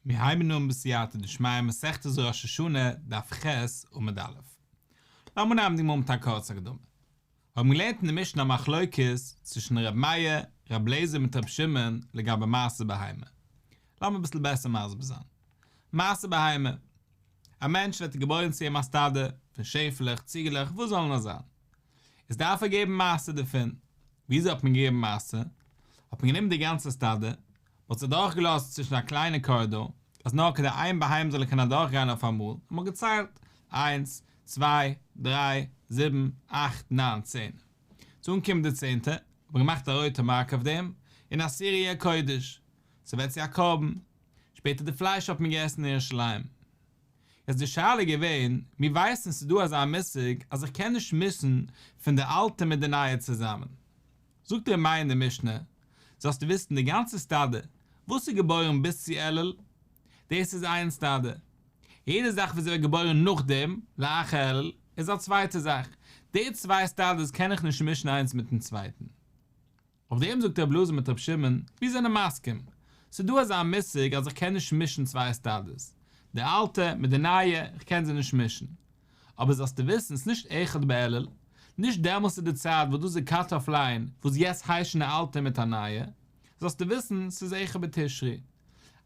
מיר הייבן אן בסייעתא דשמיא מסכת זו ראש השנה דף ח' עמוד א'. לאמיר נעמען די גמרא מיט א קורצע הקדמה. מיר האבן געלערנט אין די משנה א מחלוקת צווישן ר' מאיר, ר' אליעזר מיט ר' שמעון לגבי מעשה בהמה. לאמיר אביסל בעסער מסביר זיין. מעשה בהמה. א מענטש ווערט געבוירן צו אים א סטאדע פון שעפעלעך, ציגעלעך, וואס זאלן עס זיין. איז דארף ער געבן מעשר דערפון. וויאזוי האט מען געגעבן מעשר? האט מען גענומען די גאנצע סטאדע, מען האט עס אדורכגעלאזט צווישן א קליינע קארידאר, אז נאר כדי איין ביהמ ד זאל קענען אדורכגיין אויפאמאל, און מען האט געציילט, איינס, צוויי, דריי, זיבן, אכט, ניין, צען. צו אנקומען די צענטע, האט מען געמאכט א רויטע מארק אויף דעם, אין א סיריע קודש. ס'ווערט צו א קרבן. שפעטער די פלייש האט מען געעסן אין ירושלים. איז די שאלה געווען, מיר ווייסן ס'איז דא אזא מושג אז איך קען נישט מישן פון די אלטע מיט די נייע צוזאמען. זאגט ר' מאיר אין די משנה, זאלסטו וויסן די גאנצע סטאדע וואס איז געבוירן ביז צו אלול, דאס איז איין סטאדע, יעדע זאך וואס איז ווערט געבוירן נאכדעם, לאחר אלול, איז א צווייטע זאך, די צוויי סטאדעס קען איך נישט מישן איינס מיטן צווייטן. אויף דעם זאגט רבי אלעזר מיט רבי שמעון, מיר זענען מסכים, ס'איז דא אזא מושג אז איך קען נישט מישן צוויי עסטאדעס, די אלטע מיט די נייע, איך קען זיי נישט מישן. אבער זאלסטו וויסן, ס'איז נישט אחד באלול, נישט דעמאלס איז די צייט וואס דאס איז קאט אף ליין וואס יעצט היישן א אלטע מיט א נייע, זאלסטו וויסן, ס'איז אחד בתשרי.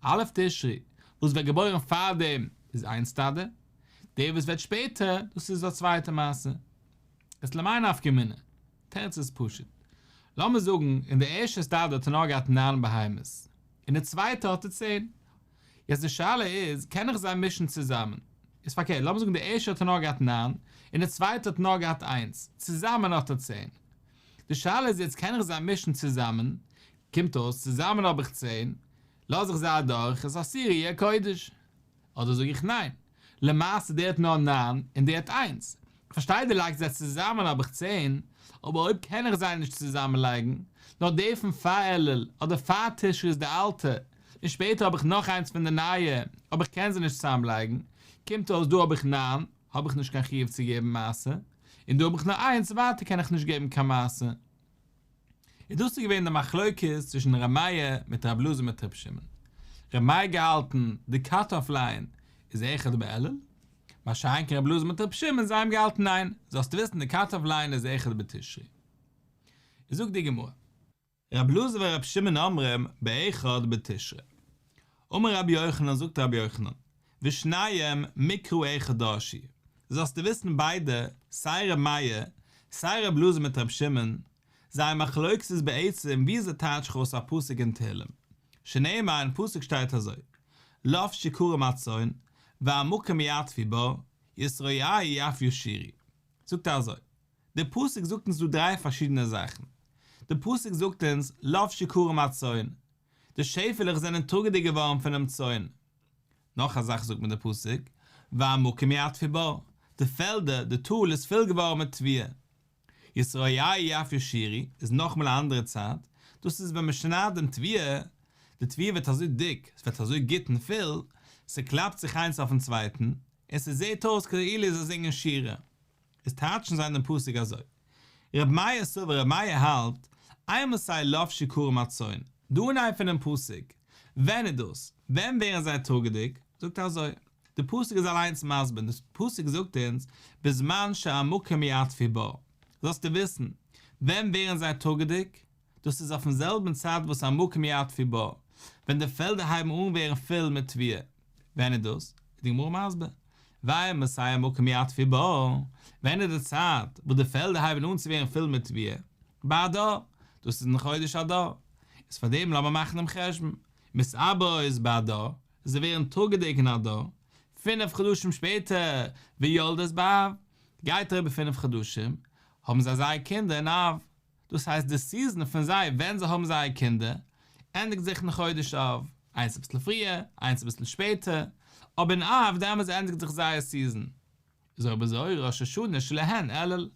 א' תשרי, וואס ווערט געבוירן פארדעם איז איין סטאדע, די וואס ווערט שפעטער, דאס איז א צווייטע מעשה. איז למאי נפקא מינה? תירוץ איז פשוט. לאמיר זאגן אין די ערשטע סטאדיע האט ער נאר געהאט נײַן בהמות, אין די צווייטע האט ער צען. יעצט די שאלה איז, קען איך זיי מישן צוזאמען? איז פארקערט, לאמיר זאגן די ערשטע האט ער נאר געהאט נײַן, אין די צווייטע האט ער נאר געהאט איינס, צוזאמען האט ער צען. די שאלה איז יעצט, קען איך זיי מישן צוזאמען? קומט אויס, צוזאמען האב איך צען, לאז איך זיי אדורך, איז א סיריע קודש. אדער זאג איך ניין? למעשה דער האט נאר ניין און דער האט איינס. כ'פארשטיי דו לייגסט זיי צוזאמען האב איך צען, אבער אויב קען איך זיי נישט צוזאמען לייגן, נאר די פון פאר אלול אדער פאר תשרי איז די אלטע, און שפעטער האב איך נאך איינס פון די נייע, אבער איך קען זיי נישט צוזאמען לייגן, קומט אויס דא האב איך ניין, האב איך נישט קיין חיוב צו געבן מעשר, און דא האב איך נאר איינס, ווייטער קען איך נישט געבן קיין מעשר. און דאס איז געווען די מחלוקת צווישן ר' מאיר מיט ר' אלעזר מיט ר' שמעון. ר' מאיר געהאלטן די קאט אף ליין איז איכות בעלל, מה שאין כן ר' אלעזר מיט ר' שמעון זיי האבן געהאלטן ניין, זאלסט וויסן די קאט אף ליין איז איכות בתשרי. איז זאגט די גמרא. ר' אלעזר ור' שמעון אומרים באיכות בתשרי. אמר רבי יוחנן זאגט רבי יוחנן, ושניהם מקרא אחד דרשי, זאלסטו וויסן ביידע, סיי ר' מאיר, סיי ר' אלעזר מיט ר' שמעון, זייער מחלוקת איז בעצם ווי אזוי טייטש איך אויס א פסוק אין תהילים, שנאמר אין פסוק שטייט אזוי, לאפ שיכורים הצאן, והמקום יעטפי בו, ישראיי יעטפיו שירי. זאגט ער אזוי, די פסוק זאגט אונז דא דריי פארשידענע זאכן, די פסוק זאגט אונז לאפ שיכורים הצאן, די שעפעלעך זענען טראגעדיג געווארן פונעם צאן, נאך א זאך זאגט מיר דער פסוק, והמקום יטפי בו, די פעלדער, די טאל איז פול געווארן מיט טביעה. ישראיי יפי שירי איז נאכמאל א אנדערע צייט, דאס איז ווען מען שניידט דעם טביעה, די טביעה ווערט אזוי דיק, עס ווערט אזוי גוט און פול, ס'קלאפט זיך איינס אויפן צווייטן, און ס'זעט אויס כאילו זיי זינגען שירה. איז טייטשן זיי דעם פסוק אזוי. ר' מאיר סובר ר' מאיר האלט, איי מוז סיי לאו שיכורים הצאן, דא אין איי פונעם פסוק, ווען איז דאס? ווען ווערן זיי טראגעדיג? זאגט ער אזוי, די פסוק איז אליינס מסביר, די פסוק זאגט אונז, בזמן שהמקום יעטפי בו, זאלסטו וויסן, ווען ווערן זיי טראגעדיג? דאס איז אויפן זעלבן צד וואס א מקום יד פי בה, ווען די פעלדער הייבן אן ווערן פול מיט טביעה. ווען איז דאס? איז די גמרא מסביר, והיה מסי א מקום יד פי בה, ווען איז די צייט וואס די פעלדער הייבן אן צו ווערן פול מיט טביעה? באדר, דאס איז אין חודש אדר. איז פאר דעם לאמיר מאכן דעם חשבון, מסי בה איז באדר, זיי ווערן טאגעדיג אין אדר, פינף חדשים שפעטער ויולדת באב, גייט אריבער פינף חדשים, האבן זיי זייער קינדער אין אב, דאס הייסט די סיזען פון זיי ווען זיי האבן זייער קינדער ענדיגט זיך אין חודש אב, איינס אביסל פריער איינס אביסל שפעטער, אבער אין אב דעמאלטס ענדיגט זיך זייער סיזען, איז אויב אזוי ראש השנה שלהן אלול,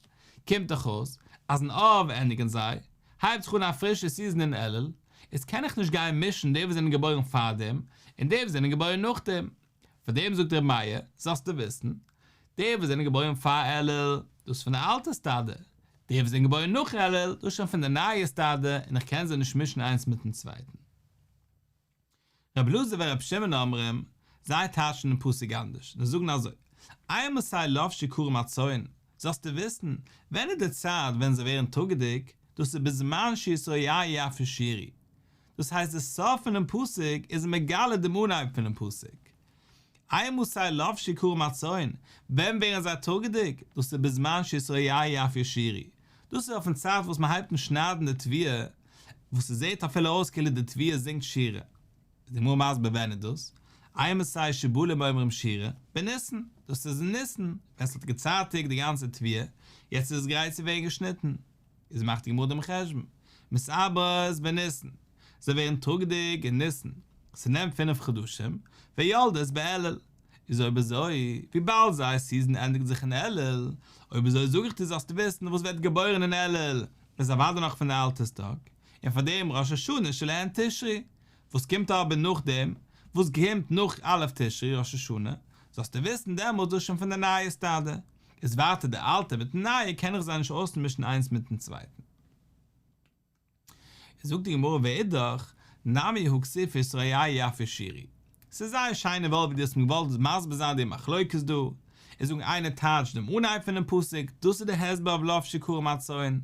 קומט דאך אויס אז אין אב ענדיגן זיי, הייבט זיך אן א פרישע סיזען אין אלול, איז קען איך נישט גיין מישן די וואס זענען געבוירן פארדעם און די וואס זענען געבוירן נאכדעם. פאר דעם זאגט ר' מאיר, זאלסטו וויסן, די וואס זענען געבוירן פאר אלול, דאס פון די אלטע סטאדע, די וואס זענען געבוירן נאך אלול, דאס שוין פון די נייע סטאדע, און איך קען זיי נישט מישן איינס מיטן צווייטן. ר' אלעזר און ר' שמעון אומרים, זיי טייטשן דעם פסוק אנדערש, זיי זאגן אזוי, איינמאל ס'איז לב שיכורם הצאן, זאלסטו וויסן, ווען איז די צייט ווען זיי ווערן טאגעדיג, דאס איז בזמן שישראל יער יפה שירי, דאס הייסט די סוף פונעם פסוק איז מגלה דעם אנהייב פונעם פסוק, איי מסי לבשי כרם הצאן, ווען ווערן זיי טאגעדיג, דאס איז בזמן שישראיי אף ישירי, דאס איז אויפן צייט וואס מען הייבט אן שניידן די תביעה, וואס עס זעט אפילו אויס כאילו די תביעה זינגט שירה, איז די גמרא מסביר ווען איז דאס, איי מסי שבלו מאומרים שירה, בניסן, דאס איז אין ניסן, ווען עס האט געצייטיגט די גאנצע תביעה, יעצט איז עס גרייט צו ווערן געשניטן, איז מאכט די גמרא דעם חשבון, מסעברת בניסן, זיי ווערן טאגדיג אין ניסן, ס'נעמט פינף חדשים, ויולדת באלול, איז אויב אזוי, וויבאלד זייער סיזען ענדיגט זיך אין אלול, אויב איזוי זאג איך דיר זאלסט וויסן וואס ווערט געבוירן אין אלול, איז אוודאי נאך פון אלטער'ס טאג, און פאר דעם ראש השנה שלהן תשרי, וואס קומט אבער נאכדעם, וואס קומט נאך א' תשרי ראש השנה, זאלסטו וויסן דעמאלטס דאס שוין פון די נייע סטאדע. איז ווייטער די אלטע, מיט די נייע קען איך זיי נישט אויסמישן איינס מיטן צווייטן. איז זאגט די גמרא ואידך, נמי הוא כסיפי סוריה יפי שירי. ס'איז זייער שיין און וואויל ווי דו האסט מיר געוואלט מסביר זיין די מחלוקת דא, און זאגן איינער טייטשט דעם אנהייב פונעם פסוק, דאס איז די הסבר אויף לא שיכורים הצאן,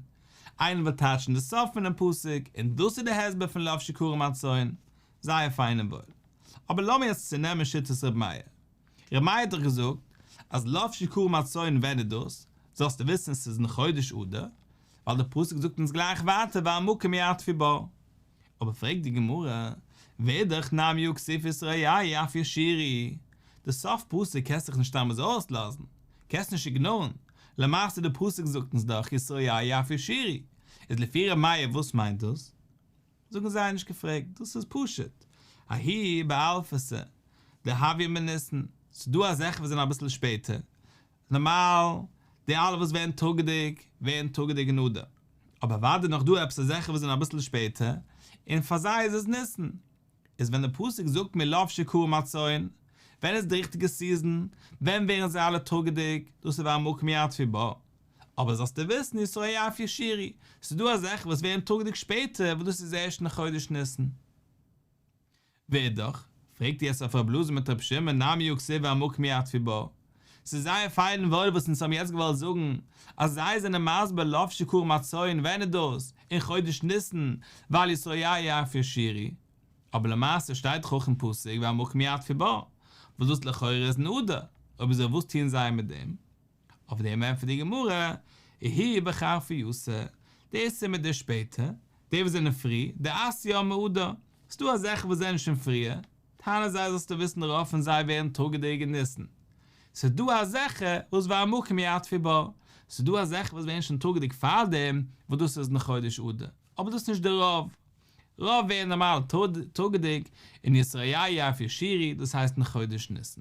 איינער וויל טייטשן די סוף פונעם פסוק, און דאס איז די הסבר פון לא שיכורים הצאן. זייער פיין און וואויל. אבער לאמיר יעצט צונעמען שיטת ר' מאיר. ר' מאיר האט דאך געזאגט אז לאו שיכורים הצאן ווען איז דאס? זאלסטו וויסן ס'איז אין חודש אדר, ווייל די פסוק זאגט אונז גלייך ווייטער והמקום יעטפי בו. אבער פרעגט די גמרא, ואידך נמי וכסיף איסר אייאי אף ישירי, די סוף פסוק קענסט דיך נישט סתם אזוי אויסלאזן, קענסט נישט איגנארן, למעשה די פסוק זאגט אונז דאך איסר אייאי אף ישירי, איז לפי ר' מאיר וואס מיינט דאס? זאגן זיי נישט געפרעגט, דאס איז פשוט, האי באלפסה דהווי מניסן, ס'איז דא אזעלכע וואס זענען אביסל שפעטער, נארמאל די אלע וואס ווערן טאגעדיג ווערן טאגעדיג אין אדר, אבער אוודאי נאך דא עפעס אזעלכע וואס זענען אביסל שפעטער, און פאר זיי איז עס ניסן, איז ווען די פסוק זאגט מיר לובשי כרם הצאן, ווען איז די ריכטיגע סיזען, ווען ווערן זיי אלע טאגעדיג, דאס איז וואו המקום יתפי בו, אבער זאלסטו וויסן ישרא' אפי' שירי, ס'איז דא אזעלכע וואס ווערן טראגדיג שפעטער וואס דאס איז ערשט אין חודש ניסן. ואידך, פרעגט איר עס אויף רב לוזי מיט רב שמעון נאר מיהו כסיל ועמוק מי עטפי בו. ס'איז זייער פיין און וואויל וואס אונז האבן יעצט געוואלט זאגן אז זיי זענען מסביר לאו שיכור מהצאן ווען איז דאס אין חודש ניסן ווייל ישרא' אפי' שירי, אבער למעשה שטייט דאך אויך אין פסוק ועמוק מי עטפי בו וואס דאס לכאורה איז אין אדר, אויב אזוי וואס טוען זיי מיט דעם? אויף דעם ענטפערט די גמרא, איהי בחרפי יסא, דער עשה מיט דער שפעטער, די וואס זענען פרי, דער עשיה מעודה, ס'דא אזעלכע וואס זענען שוין פריער, טענה'ן זיי זאלסטו וויסן רוב פון זיי ווערן טראגעדיג אין ניסן, ס'דא אזעלכע וואס והמקום יעטפי בה, ס'דא אזעלכע וואס ווערן שוין טראגעדיג פארדעם וואס דאס איז אין חודש אדר, אבער דאס איז נישט דער רוב, רוב ווערן נארמאל טראגעדיג אין ישראיי אפי' שירי, דאס הייסט אין חודש ניסן.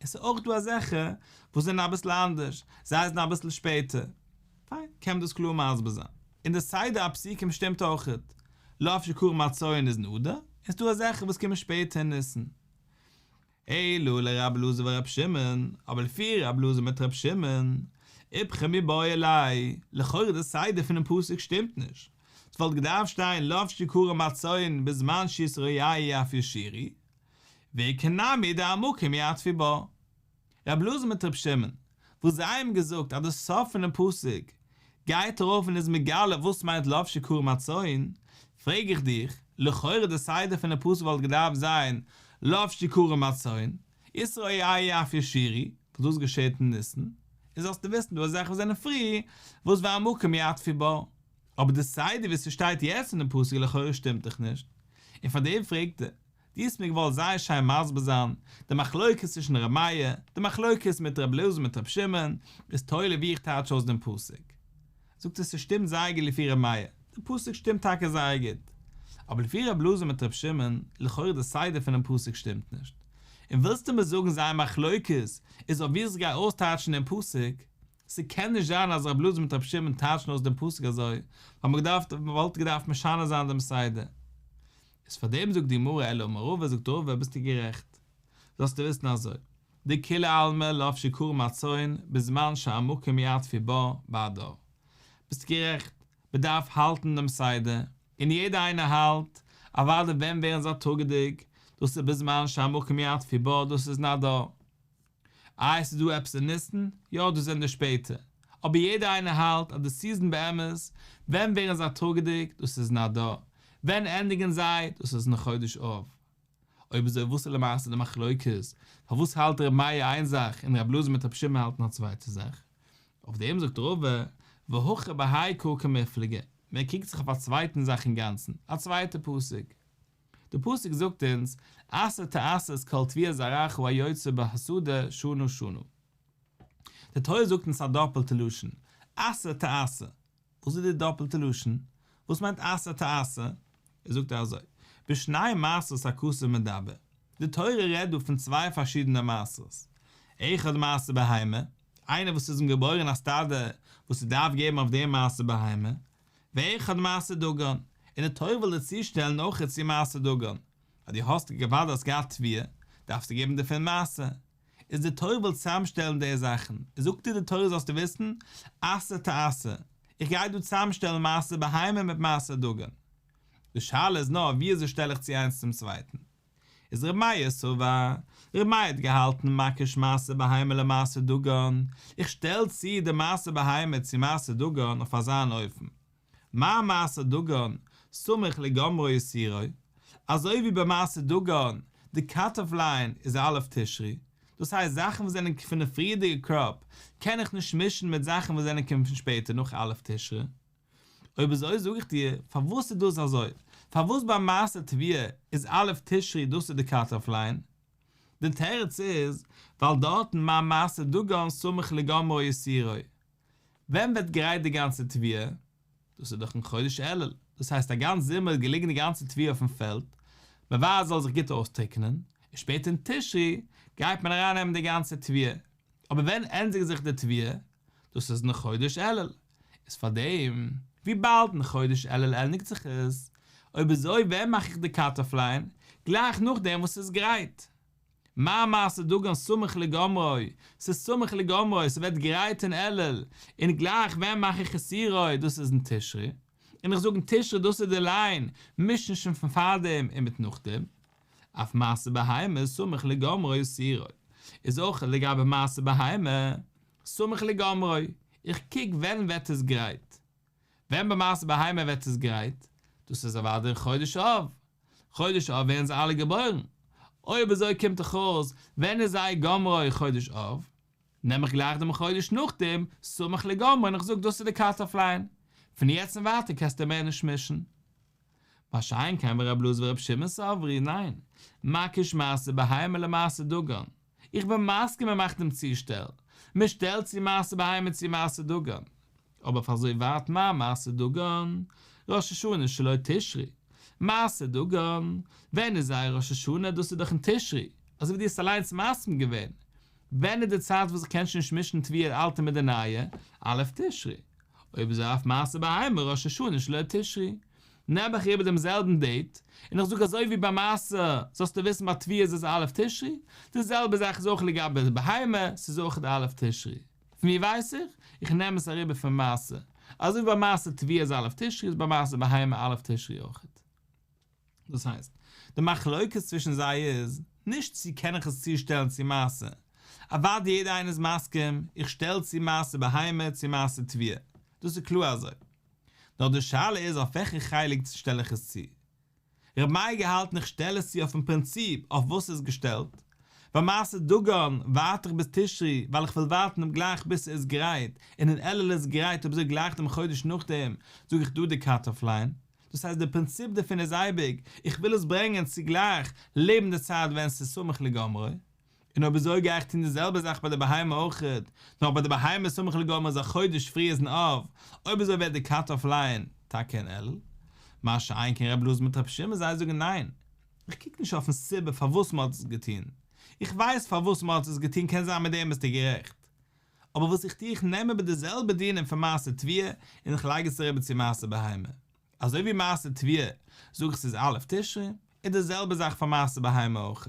עס איז אויך דא אזעלכע וואס זענען אביסל אנדערש, זיי זענען אביסל שפעטער, פיין, קען מען דאס קלאר מסביר זיין. און די סדר הפסוקים שטימט אויך, לא אף שכור מצוי איז אין אדר, און ס'איז דא אזעלכע וואס קומען שפעטער אין ניסן. אלא לרבי אלעזר ורבי שמעון, אבער לפי רבי אלעזר מיט רבי שמעון, איפכא מיבאי אלי', לכאורה די סדר פונעם פסוק שטימט נישט, ס'וואלט געדארפט שטיין לא אף שכור מצוי בזמן שישרי איה אף ישירי, ואי כנמי די עמוקי מי עטבי בא. ר' אלעזר מיט ר' שמעון, וואס זיי האבן געזאגט אז די סוף פונעם פסוק גייט ארויף און איז מגלה וואס מיינט לבשי כרם הצאן, פרעג איך דיך, לכאורה די סדר פונעם פסוק וואלט געדארפט זיין לבשי כרם הצאן, ישרא איה אף ישירי, וואס דאס געשעהט אין ניסן, און זאלסטו וויסן דא איז זאכן וואס זענען פרי, וואס ואי עמוקי מי עטבי בא. אבער די סדר ווי ס'שטייט יעצט אינעם פסוק לכאורה שטימט דיך נישט, און פאר דעם פרעגט ער. דו האסט מיר געוואלט זייער שיין מסביר זיין די מחלוקת צווישן ר' מאיר, די מחלוקת מיט ר' אלעזר מיט ר' שמעון, איז תולה ווי איך טייטש אויס דעם פסוק. זאגסטו ס'שטימט זייער גוט לפי ר' מאיר, דער פסוק שטימט טאקע זייער גוט. אבער לפי ר' אלעזר מיט ר' שמעון, לכאורה די סדר פונעם פסוק שטימט נישט. און ווילסטו מיר זאגן זייער מחלוקת איז אויף ווי איך גיי אויסטייטשן דעם פסוק? ס'קען נישט זיין אז ר' אלעזר מיט ר' שמעון טייטשן אויס דעם פסוק אזוי, ווייל מ'וואלט געדארפט משנה זיין דעם סדר. איז פאר דעם זאגט די גמרא אלא מרובה זאגט רובה ביסטו גערעכט זאלסטו וויסן אזוי די כולי עלמא לאו שיכור מהצאן בזמן שהמקום יעטפי בה בהדר ביסט גערעכט מען דארף האלטן דעם סדר און יעדער איינער האלט אוואדי ווען ווערן זיי טאגעדיג דאס איז בזמן שהמקום יעטפי בה דאס איז אין אדר איי עס איז דא עפעס אין ניסן? יא דאס זענען די שפעטער. אבער יעדער איינער האלט אז די סיזען באמת, ווען ווערן זיי טראגעדיג? דאס איז אין אדר. ווען ענדיגען זיי? דאס איז אין חודש אב. אויב אזוי וואס איז למעשה די מחלוקת? פארוואס האלט ר' מאיר איין זאך און ר' אלעזר מיט ר' שמעון האלטן א צווייטע זאך? אויף דעם זאגט רבא, והכי בהאי קא כמפלגה, מען קוקט זיך אויף א צווייטן זאך אינגאנצן, א צווייטע פסק. די פסוק זאגט אונז עשה תעשה את כל תביעת זרעך הוא היוצא בהסעודה שנה שנה. די תורה זאגט אונז א דאפעלטע לשון עשה תעשה, וואס איז די דאפעלטע לשון? וואס מיינט עשה תעשה? ער זאגט אזוי, בשני מעשות הכתוב מדבר, די תורה רעדט דא פון צוויי פארשידענע מעשות, אחד מעשה בהמה, איינער וואס איז אים געבוירען א סטאדע וואס ער דארף געבן אויף דעם מעשה בהמה, ואחד מעשה דגון, און די תורה וויל דיר צושטעלן אויך איצט איר מעשה דגון, אז דו האסט די געוואלד האסט געהאט תביעה, דארפסטו געבן דערפון מעשר, איז די תורה וויל צוזאמשטעלן די זאכן, זאגט דיר די תורה זאלסטו וויסן, עשה תעשה, איך גיי דא צוזאמשטעלן מעשר בהמה מיט מעשר דגון, די שאלה איז נאר וויאזוי שטעל איך צו איינס צום צווייטן. איז ר' מאיר סובא, ר' מאיר האט געהאלטן מקיש מעשה בהמה למעשה דגן, איך שטעל צו די מעשה בהמה צו מעשה דגן אויף אזאן אופן, מה מעשה דגן, סמוך לגמרו יסירו, אזוי ווי ביי מעשה דגן, די קאט אף ליין איז א' תשרי, דאס הייסט זאכן וואס זענען פון די פריערדיגע קראפ קען איך נישט מישן מיט זאכן וואס זענען קומען פון שפעטער נאך א' תשרי. אויב איז אזוי זאג איך דיר פארוואס איז דאס אזוי, פארוואס ביי מעשה טביעה איז א' תשרי דאס איז די קאט אף ליין, די תירוץ איז ווייל דארטן מה מעשה דגן סמוך לגמרו יסירו, ווען ווערט גרייט די גאנצע טביעה? דאס איז דאך אין חודש אלול, דאס הייסט א גאנץ זומער איז געליגן די גאנצע טביעה אויפן פעלד, מ'ווארט עס זאל זיך גוט אויסטריקענען, און שפעטער אין תשרי גייט מען אריין נעמען די גאנצע טביעה, אבער ווען ענדיגט זיך די טביעה? דאס איז אין חודש אלול. איז פאר דעם. וויבאלד אין חודש אלול ענדיגט זיך עס, אויב אזוי ווען מאך איך די קאט-אף ליין? גלייך נאכדעם וואס ס'איז גרייט? מה מעשה דגן סמוך לגומרו, ס'איז סמוך לגומרו, ס'ווערט גרייט אין אלול, און גלייך ווען מאך איך עס יראי, דאס איז אין תשרי, און איך זאג אין תשרי דאס איז די ליין, מישן שוין פון פארדעם און מיט נאכדעם. אויף מעשה בהמה איז סמוך לגומרו ישרא, איז אויך לגבי מעשה בהמה. סמוך לגמרי, איך קוק ווען ווערט עס גרייט. ווען במעשה בהמה ווערט עס גרייט? דאס איז אוודאי אין חודש אב. חודש אב ווערן זיי אלע געבוירן. אויב אזוי קומט דאך אויס ווען איז אי' גמרא חודש אב? נעם איך גלייך דעם חודש נאכדעם, סמוך לגמרי, און איך זאג דאס איז די קאט אף ליין. פון יעצט און ווייטער קענסטו מער נישט מישן. מה שאין כן ורב לוז ורב שמעון סברי, ניין, מקיש מעשה בהמה למעשה דגן. איך בין מסכים מען מאכט דעם צושטעל, מען שטעלט צו מעשה בהמה צו מעשה דגן, אבער פאר אזוי ווייט מה מעשה דגן? ראש השנה שלא תשרי, מעשה דגן, ווען איז זייער ראש השנה? דאס איז דאך אין תשרי, אזוי ווי דו האסט אליינס מסכים געווען, ווען איז די צייט וואס איך קען שוין נישט מישן טביה די אלטע מיט די נייע? א' תשרי, אויב איז אויף מעשה בהמה ראש השנה שלא תשרי, נעם איך איבער דעם זעלבן דעיט, און איך זאג אזוי ווי ביי מעשה, זאלסטו וויסן ביי תביעות איז א' תשרי, די זעלבע זאך איז אויך לגבי די בהמה, ס'איז אויך א' תשרי. פון ווי ווייס איך? איך נעם עס אריבער פון מעשה. אזוי ווי ביי מעשה תביעה איז א' תשרי איז ביי מעשה בהמה א' תשרי אויכעט. דאס הייסט, די מחלוקת צווישן זיי איז, נישט צי קען איך עס צושטעלן צו מעשה. אוואדי יעדער איינער איז מסכים, איך שטעל צו מעשה בהמה צו מעשה תביעה. דאס איז קלאר אזוי. נאר די שאלה איז אויף וועלכע חלק שטעל איך עס צו. ר' מייגל האלט איך שטעל עס צו אויפן פרינציפ אויף וואס ס'איז געשטעלט, ביי מעשה דגן ווארט איך ביז תשרי ווייל איך וויל ווארטן דעם גלייך ביז ס'איז גרייט און אין אלול איז גרייט אויב ס'איז גלייך דעם חודש נאכדעם זאג איך דא די קאט אף ליין, דאס הייסט די פרינציפ דערפון איז אייביג איך וויל עס ברענגען צו גלייך לעבן די צייט ווען ס'איז סמוך לגמרי, און אויב אזוי גיי איך טון די זעלבע זאך ביי די בהמה אויך, נאר ביי די בהמה סמוך לגמר איז א חודש פרי איז אין אב, אויב אזוי ווערט די קאט אף ליין טאקע אין אלול, מה שאין כן רב לוז מיט רב שמעון זיי זאגן ניין, איך קוק נישט אויפן סיבה פארוואס מען האט עס געטון, איך ווייס פארוואס מען האט עס געטון קען זיין מיט דעם ביסטו גערעכט, אבער וואס איך טו איך נעם איבער די זעלבע דינים פון מעשה טבילה און איך לייג עס אריבער צו מעשה בהמה. אזוי ווי מעשה טביה זאגן ס'איז א' תשרי, איז די זעלבע זאך פאר מעשה בהמה אויך.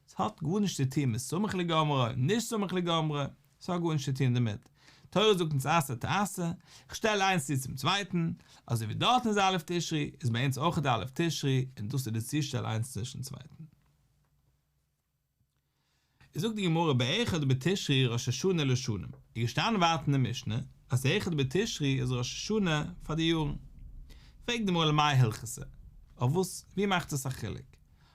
ס'האט גארנישט צו טון מיט סמוך לגמרי, נישט סמוך לגמרי, ס'האט גארנישט צו טון דערמיט. תורה זאגט אונז עשה תעשה, כ'שטעל איינס צו צום צווייטן, אזוי ווי דארטן איז א' תשרי, איז ביי אונז אויך א' תשרי, און דאס איז די צושטעל איינס צווישן צווייטן. זאגט די גמרא באחד בתשרי ראש השנה לשנים, איז געשטאנען ווייטער אין די משנה אז אחד בתשרי איז ראש השנה פאר די יארן, פרעגט די גמרא למאי הלכתא, אויף וואס, ווי מאכט עס א חילוק,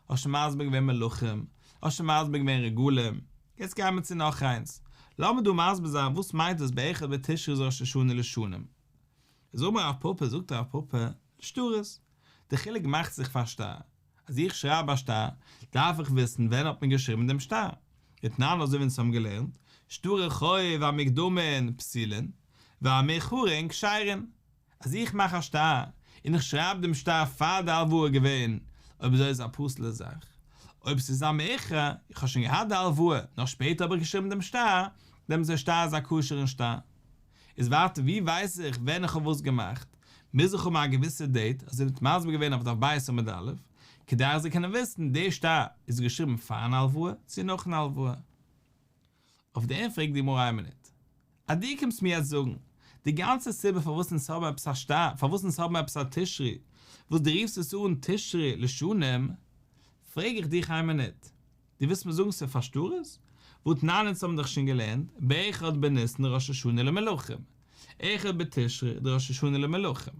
האסט שוין מסביר געווען מלכים, האסט שוין מסביר געווען רגלים, יעצט גיימיר צו נאך איינס, לאמיר דא מסביר זיין וואס מיינט דאס באחד בתשרי איז ראש השנה לשנים, זאג מיר הרב פאפא זאגט הרב פאפא, לשטרות, די חילוק מאכט זיך פארשטיין. אז איך שרייב א שטר, דארף איך וויסן ווען האט מען געשריבן דעם שטר. אתנן אזוי ווי אונז האבן געלערנט, שטרי חוב המקדמין פסילין, והמאיחורין כשירין. אז איך מאך א שטר, און איך שרייב דעם שטר פאר די הלוואה געווען, אויב אזוי איז עס א פסול'ע זאך. אויב ס'איז א מאיחור, איך האב שוין געהאט די הלוואה, נאר שפעטער האב איך געשריבן דעם שטר, דעמאלטס איז דער שטר איז א כשר'ן שטר. איז ווייטער ווי ווייס איך ווען איך האב וואס געמאכט? מוז איך האבן א געוויסע דעיט אז ער האט מסביר געווען אויף דף בית עמוד א', כדי איך זאל קענען וויסן די שטר איז געשריבן פארן הלוואה צו נאכן הלוואה. אויף דעם פרעגט די גמרא איין מינוט. אז דו קומסט מיר יעצט זאגן די גאנצע סיבה פארוואס אונז האבן עפעס א שטר, פארוואס אונז האבן עפעס א תשרי, וואס דו רופסט עס אן תשרי לשנים, פרעג איך דיך איין מינוט, דו ווילסט מיר זאגן ס'איז פאר שטרות? ועוד תנן אונז האבן דאך שוין געלערנט, באחד בניסן ראש השנה למלכים, אחד בתשרי די ראש השנה למלכים,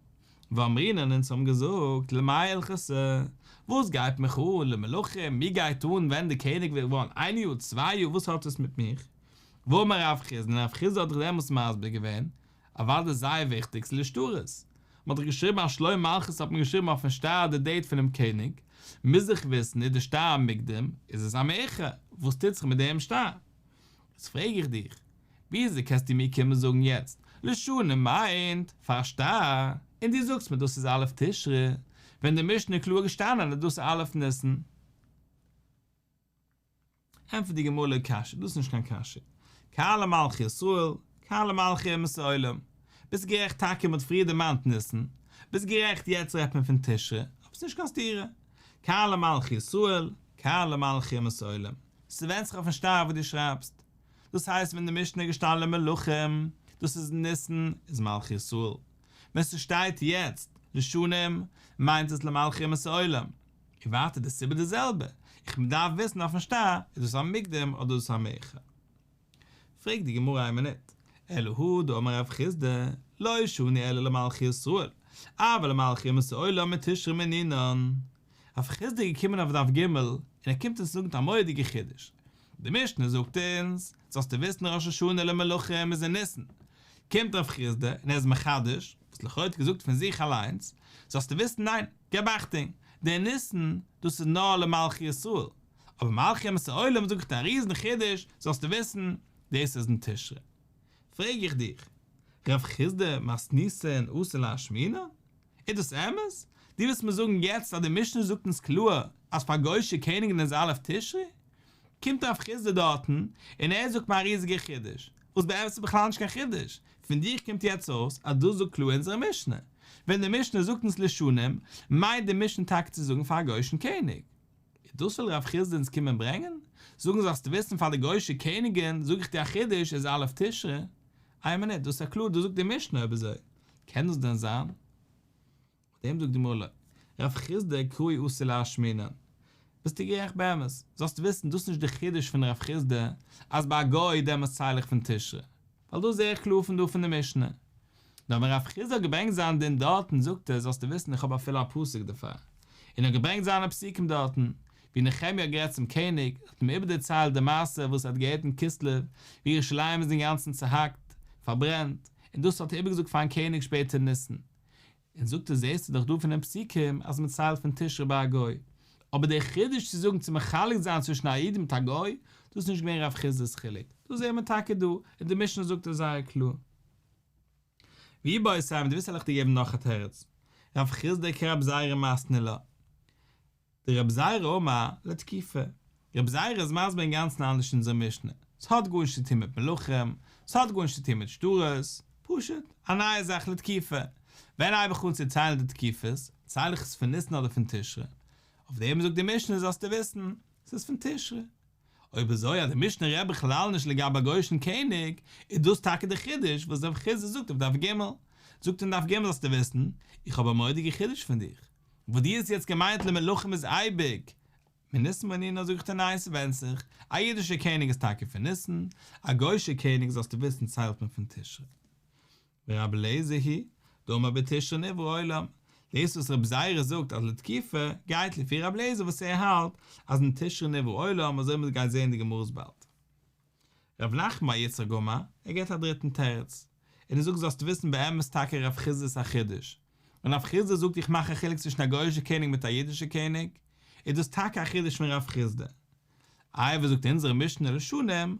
ואמרינן אונז האבן געזאגט, למאי הלכות ע? וואס גייט מיך אן למלכים? מיר גייט אן ווען די קעניג ווערט געווארן איין יאר, צוויי יאר, וואס האט עס מיט מיך? ואמר רב חיסדא, און רב חיסדא האט דאך דעמאלס מסביר געווען, אוודאי זייער וויכטיג, ס'איז נישט ארז. מ'האט דאך געשריבן אז שלום מלכות האט מען געשריבן אויפן שטר די דעיט פונעם קעניג, מוז איך וויסן איז די שטר א מוקדם, איז עס א מאוחר, וואס טוט זיך מיט דעם שטר? איז פרעג איך דיך, וויאזוי קענסטו מיר קומען זאגן יעצט, לשנה מיינט פאר א שטר, און דו זאגסט מיר דאס איז א' תשרי, ווען די משנה איז קלאר געשטאנען אז דאס איז א' ניסן? ענטפערט די גמרא לא קשיא, דאס איז נישט קיין קשיא, קהל המלכי ישראל, קהל המלכי אומות העולם, ביסט גערעכט טאקע מען האט פריער דערמאנט ניסן, ביסט גערעכט יעצט רעדט מען פון תשרי, אבער ס'נישט קיין סתירה, קהל המלכי ישראל, קהל המלכי אומות העולם, ס'ווענד זיך אויפן שטר וואס דו שרייבסט, דאס הייסט ווען די משנה איז געשטאנען למלכים, דאס איז אין ניסן, איז מלכי ישראל, ווען ס'שטייט יעצט לשנים מיינט עס למלכי אומות העולם. און ווייטער די סיבה די זעלבע, איך מדארף וויסן אויפן שטר איז דאס א מוקדם אדער איז דאס א מאוחר. פרעגט די גמרא איין מינוט, אלא הוא דאמר רב חיסדא, לא שני אלא למלכי ישראל, אבל למלכי אומות העולם מיט תשרי מנינן. רב חיסדא איז געקומען אויף דף ג' און ער קומט אונז זאגן א מורא'דיגע חידוש. די משנה זאגט אונז, זאלסטו וויסן ראש השנה למלכים איז אין ניסן, קומט רב חיסדא און ער איז מחדש וואס לכאו' האט ער געזאגט פון זיך אליינס, זאלסטו וויסן ניין, געב אכטונג, דער ניסן דאס איז נאר למלכי ישראל, אבער מלכי אומות העולם זאג איך דיר א ריזן חידוש זאלסטו וויסן, דאס איז אין תשרי. פרעג איך דיך, רב חיסדא, מאסניסא און אסרו להשמינה? איז דאס אמת? דו ווילסט מיר זאגן יעצט אז די משנה זאגט אונז קלאר אז פאר גוי'שע קעניגן איז א' תשרי? קומט רב חסדא דארטן און ער זאגט מיר א ריזיגע חידוש, וואס באמת איז בכלל נישט קיין חידוש, פון דיך קומט יעצט אויס אז דאס זאגט קלאר אונזערע משנה. ווען די משנה זאגט אונז לשנים, מיינט די משנה טאקע צו זאגן פאר א גוי'שן קעניג. איז דאס וויל רב חסדא אונז קומען ברענגען? זאגן זאלסטו וויסן פאר די גוי'שע קעניגען, זאג איך דיר א חידוש איז א' תשרי, איין מינוט דאס איז קלאר דאס זאגט די משנה אויב איז אזוי קען דאס דען זיין? אויף דעם זאגט די גמרא לא רב חסדא קרוי אסור להשמינן, ביסטו גערעכט באמת, זאלסטו וויסן דאס איז נישט די חידוש פון רב חסדא אז ביי א גוי איז דעמאלטס צייל איך פון תשרי, ווייל דאס זע איך קלאר פון דא פון די משנה. נאר ווען רב חיסדא האט געברענגט זיין דין דארטן זאגט ער זאלסטו וויסן איך האב אפילו א פסוק דערפאר. און ער האט געברענגט זיינע פסוקים דארטן. ווי נחמיה האט גערעדט צום קעניג, האט אים איבער דערציילט די מעשה וואס ער האט געהערט אין כסלו, ווי ירושלים איז אינגאנצן צעהאקט, פארברענט, און דאס האט ער איבערגעזאגט פארן קעניג שפעטער ניסן. און זאגט ער זעסטו דאך דא פון די פסוקים אז מען ציילט פון תשרי ביי א גוי, אבער דער חידוש צו זאגן צו מחלק זיין צווישן א איד מיט א גוי, דאס איז נישט געווען רב חיסדא'ס חילוק, דאס זעהן מיר טאקע דא, און די משנה זאגט עס זייער קלאר. ווי בייז סייווי, דו ווילסט עלעך דיר געבן נאך א תירוץ, רב חיסדא קרב זייערע מאסטנעלע, די רב זייערע אומה לתקיפה. רב זייערע איז מסביר אינגאנצן אנדערש אין אונזער משנה, ס'האט גארנישט צוטון מיט מלכים, ס'האט גארנישט צוטון מיט שטרות, פשוט, א נייע זאך לתקיפה. ווען הייב איך אן צו ציילן די תקיפות, צייל איך עס פון ניסן אדער פון תשרי? אויף דעם זאגט די משנה זאלסטו וויסן, ס'איז פון תשרי. אויב איז אזוי אז די משנה רעדט בכלל נישט לגבי א גוי'אישן קעניג, איז דאס טאקע די חידוש וואס רב חיסדא זאגט אויף דף ג'. זאגט אין דף ג' זאלסטו וויסן, איך האב א מורא'דיגע חידוש פון דיך. וואס דו האסט יעצט געמיינט למלכים איז אייביג מען ניסן בענינו זאג איך דיר ניין ס'ווענדט זיך, א אידישער קעניג איז טאקע פון ניסן, א גוישער קעניג זאלסטו וויסן ציילט מען פון תשרי. ורבי אליעזר הי' דאמר בתשרי נברא עולם, דאס וואס רבי זיירא זאגט אז לתקופה, גייט לפי רבי אליעזר וואס ער האלט אז אין תשרי נברא עולם אזוי וועט מען גיין זעהן די גמרות באלד. ר' נחמן א יצחק גאמא, ער געט א דריטן תירוץ, און ער זאגט זאלסט וויסן באמת טאקע רב חיסדא איז א חידוש, און רב חיסדא זאגט איך מאך א חילוק צווישן א גוי'אישע קעניג מיט א אידישע קעניג, איז דאס טאקע א חידוש פון רב חיסדא. איי וואס זאגט אונזערע משנה לשנים,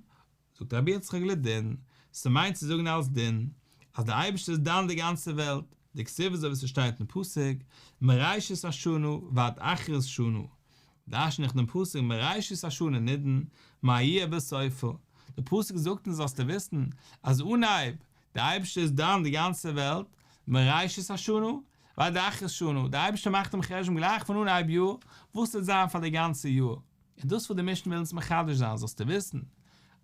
זאגט רבי יצחק לדין, ס'מיינט צו זאגן אלס דין, אז דער אייבערשטער איז דן די גאנצע וועלט, דקסיבא אזוי ווי ס'שטייט אין פסוק, מראשית השנה ועד אחרית שנה, דרשן איך דעם פסוק מראשית השנה נידון מה יהיה בסופה, דער פסוק זאגט אונז זאלסטו וויסן אז אנהייב דער אייבערשטער איז דן די גאנצע וועלט מראשית השנה ועד אחרית שנה, דער אייבערשטער מאכט דעם חשבון גלייך פון אנהייב יאר וואס וועט זיין פאר די גאנצע יאר, און דאס וואס די משנה וויל אונז מחדש זיין זאלסטו וויסן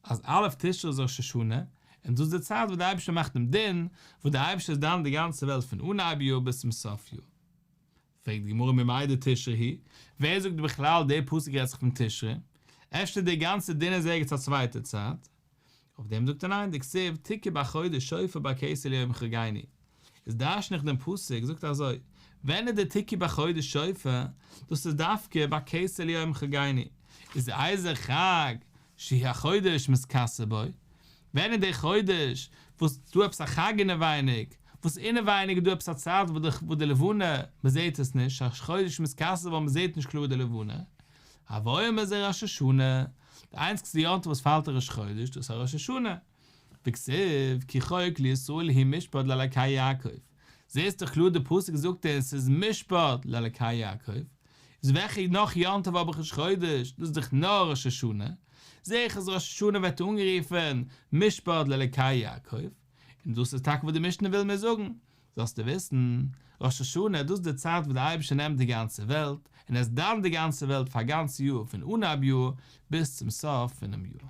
אז א' תשרי איז ראש השנה, און דאס איז די צייט וואס דער אייבערשטער מאכט דעם דין, וואס דער אייבערשטער איז דן די גאנצע וועלט פון אנהייב יאר ביז צום סוף יאר, פרעגט די גמרא ממאי דתשרי היא, ווער זאגט בכלל דער פסוק רעדט זיך פון תשרי, אפשר דער גאנצער דין איז ערגעץ א צווייטע צייט? אויף דעם זאגט ער ניין, דכתיב תקע בחודש שופר ביי כסלו יום חגייני, איז דרש'ן איך דעם פסוק זאגט אזוי, ווען איז דער תקע בחודש שופר, דאס איז דווקא ביי כסלו יום חגייני, איז אייזער חג שהיא החודש מתכסה בו, ווען איז דער חודש וואס איז דא עפעס א חג אינעווייניג, וואס אינעווייניג איז דא עפעס א צייט וואס די לבנה מ'זעט עס נישט, החודש מתכסה בו מ'זעט נישט קלאר די לבנה, הוויום איז ער ראש השנה, די איינציגסטע יום טוב וואס פאלט אין ראש חודש דאס איז א ראש השנה, וכסוף כי חוק לישראל היא משפט לאלקי יעקב, זעסט דאך קלאר די פסוק זאגט אונז ס'איז משפט לאלקי יעקב, איז וועלכע נאך יום טוב האב איך ראש חודש? דאס איז דאך נאר ראש השנה, זע איך אז ראש השנה ווערט אנגערופן משפט לאלקי יעקב, און דאס איז טאקע וואס די משנה וויל מיר זאגן, זאלסטו וויסן, ראש השנה דאס איז די צייט וואס דער אייבערשטער נעמט די גאנצע וועלט און עס דאנט די גאנצע וועלט פאר א גאנץ יאר פון אנהייב יאר ביז צום סוף פונעם יאר.